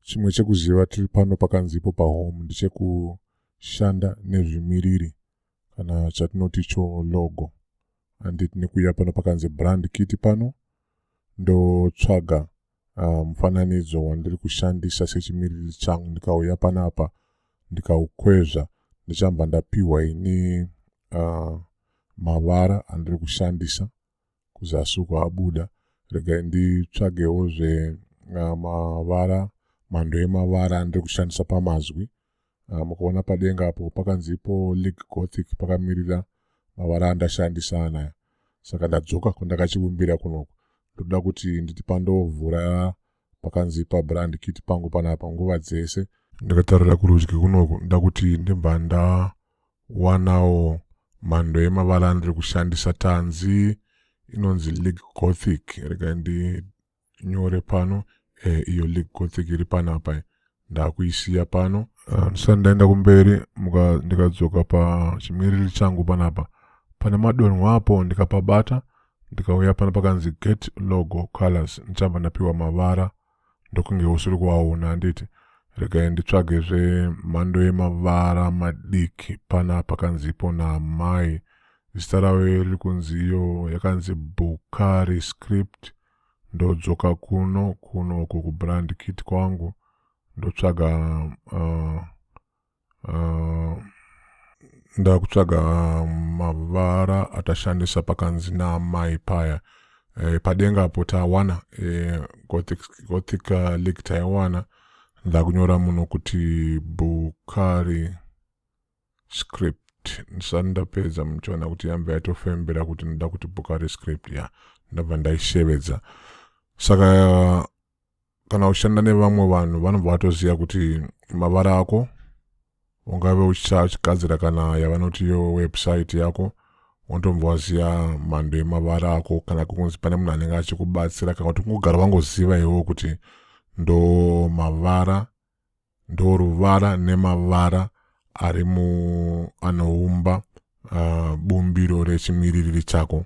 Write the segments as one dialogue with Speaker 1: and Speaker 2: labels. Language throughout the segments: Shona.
Speaker 1: chimwe chekuziva tiri pano pakanzipo pahome ndichekushanda nezvimiriri kana chatinoti cho logo handiti nekuya pano pakanzi brand kiti pano ndotsvaga uh, mufananidzo wandiri kushandisa sechimiririri changu ndikauya panapa ndikaukwezva ndichamba ndapiwa ini uh, mavara andiri kushandisa kuzasi uko abuda regai nditsvagewo zve uh, mavara mhando yemavara andiri kushandisa pamazwi Ah, mukaona padenga apo pakanzi ipo league gothic pakamirira mavara andashandisa anaya saka ndadzoka kwandakachivimbira kunoku ndoda kuti nditi pandovhura pakanzi pabrand kit pangu panapa nguva dzese ndakatarira kurudyi kunoku nda kuti ndibva ndawanawo mhando yemavara andiri kushandisa tanzi inonzi league gothic rega ndi nyore pano eh, iyo league gothic iri panapa eh. ndakuisiya pano ah, ndisati ndaenda kumberi ndikadzoka pachimiriri changu panapa pane madonho apo ndikapabata ndikauya pano pakanzi get logo colors ndichamba ndapiwa mavara ndokunge usiri kuaona handiti regai nditsvage zvemhando yemavara madiki pana pakanzipo naamai zita ravo riri kunzi iyo yakanzi bukari script ndodzoka kuno kuno uko kubrand kit kwangu ndotsvaga uh, uh, ndakutsvaga mavara atashandisa pakanzi naamai paya e, padenga apo tawana e, gothic, gothic uh, league taiwana ndakunyora muno kuti bukari script ndisati ndapedza muchiona kuti yambva yatofembera kuti ndoda kuti boka rescript ya ndabva ndaishevedza saka kana uchishanda nevamwe vanhu vanobva vatoziva kuti mavara ako ungave uchigadzira kana yavanoti yo website yako unotombva waziva mhando yemavara ako kana kunzi pane munhu anenge achikubatsira kana kuti kungogara wangoziva iwewo kuti ndo mavara ndoruvara nemavara ari mu anoumba uh, bumbiro rechimiririri chako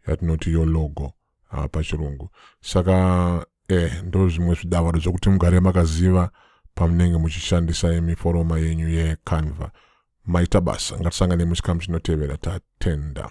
Speaker 1: yatinoti yo logo uh, pachirungu saka eh, ndo zvimwe zvidavado zvokuti mugare makaziva pamunenge muchishandisa miforoma yenyu yecanva maita basa ngatisangane muchikamu chinotevera tatenda